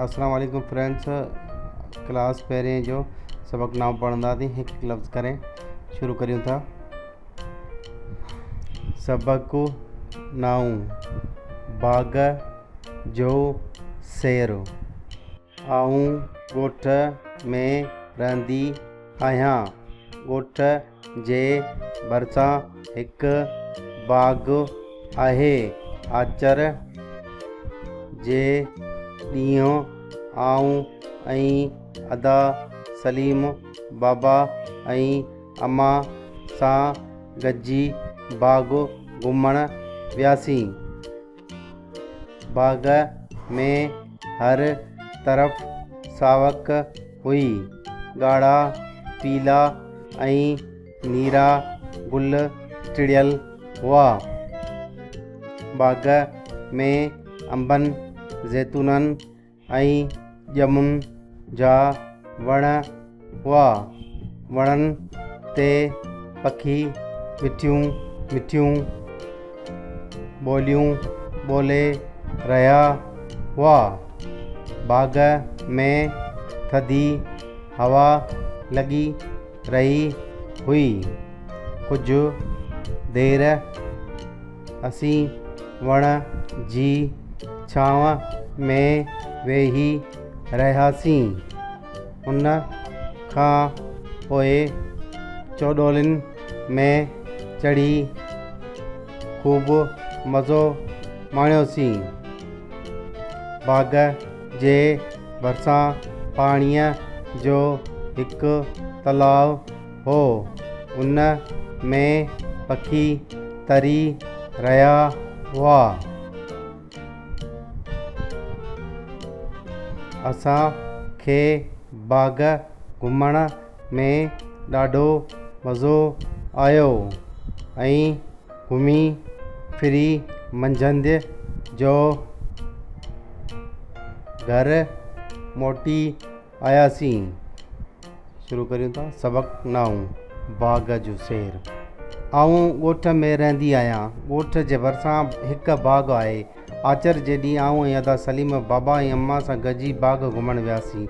اسلام عليڪم friends class پهرين جو سبق نامو پڙهنداسين هڪ هڪ لفظ ڪري شروع ڪريون ٿا سبق نائون باغ جو سير آئون ڳوٺ ۾ رهندي آهيان ڳوٺ جي ڀرسان هڪ باغ آهي. آچر جي ڏينهن آئون ۽ ادا سليم بابا ۽ اما سان گڏجي باغ گهمڻ وياسين. باغ ۾ هر طرف ساوڪ هئي. ڳاڙها، پيلا ۽ نيرا گل ٽڙيل هئا. باغ ۾ انبن، زيتونن، ۽ ڄمن جا وڻ هئا. وڻن تي پکي مٺيون مٺيون ٻوليون ٻولي رهيا هئا. باغ ۾ ٿڌي هوا لڳي رهي هئي. ڪجهه دير اسين وڻ جي ڇانو ۾ ويهي رهياسين. ان کان پوء چوڏولين ۾ چڙهي خوب مزو ماڻيوسين. باغ جي ڀرسان پاڻيء جو هڪ تلاء هو. ان ۾ پکي تري رهيا هئا. اسان کي باغ گهمڻ ۾ ڏاڍو مزو آيو ۽ گهمي ڦري منجهند جو گهر موٽي آياسين شروع ڪريون ٿا سبق نائون باغ جو سير آئون ڳوٺ ۾ رهندي آهيان ڳوٺ جي ڀرسان هڪ باغ آهي آچر جي ڏينهن آئون ۽ ادا سليم بابا ۽ اما سان گڏجي باغ گهمڻ وياسين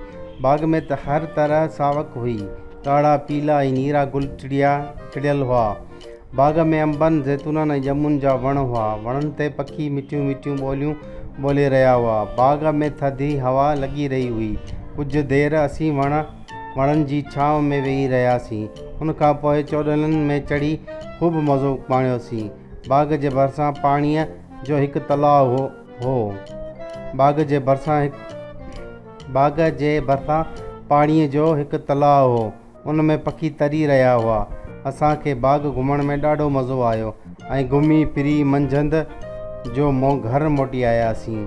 باغ ۾ ته هر طرح ساوڪ هئي ڳاڙها پيلا ۽ نيرا گل ٽڙيا ٽڙيل هئا باغ ۾ انبن، زيتونن ۽ ڄمن جا وڻ هئا. وڻن تي پکي مٺيون مٺيون ٻوليون ٻولي رهيا هئا. باغ ۾ ٿڌي هوا لڳي رهي هئي. ڪجهه دير اسين وڻ وڻن جي ڇانو ۾ ويهي رهياسين. ان کان پوء چوڏهلن ۾ چڙهي خوب مزو ماڻيوسين. باغ جي ڀرسان پاڻيء جو هڪ تلاء هو. باغ جي ڀرسان باغ جي ڀرسان پاڻيء جو هڪ تلاء هو. ان ۾ پکي تري رهيا هئا. اسان کي باغ گهمڻ ۾ ڏاڍو مزو آيو ۽ گهمي ڦري منجهند جو مون گهر موٽي آياسين.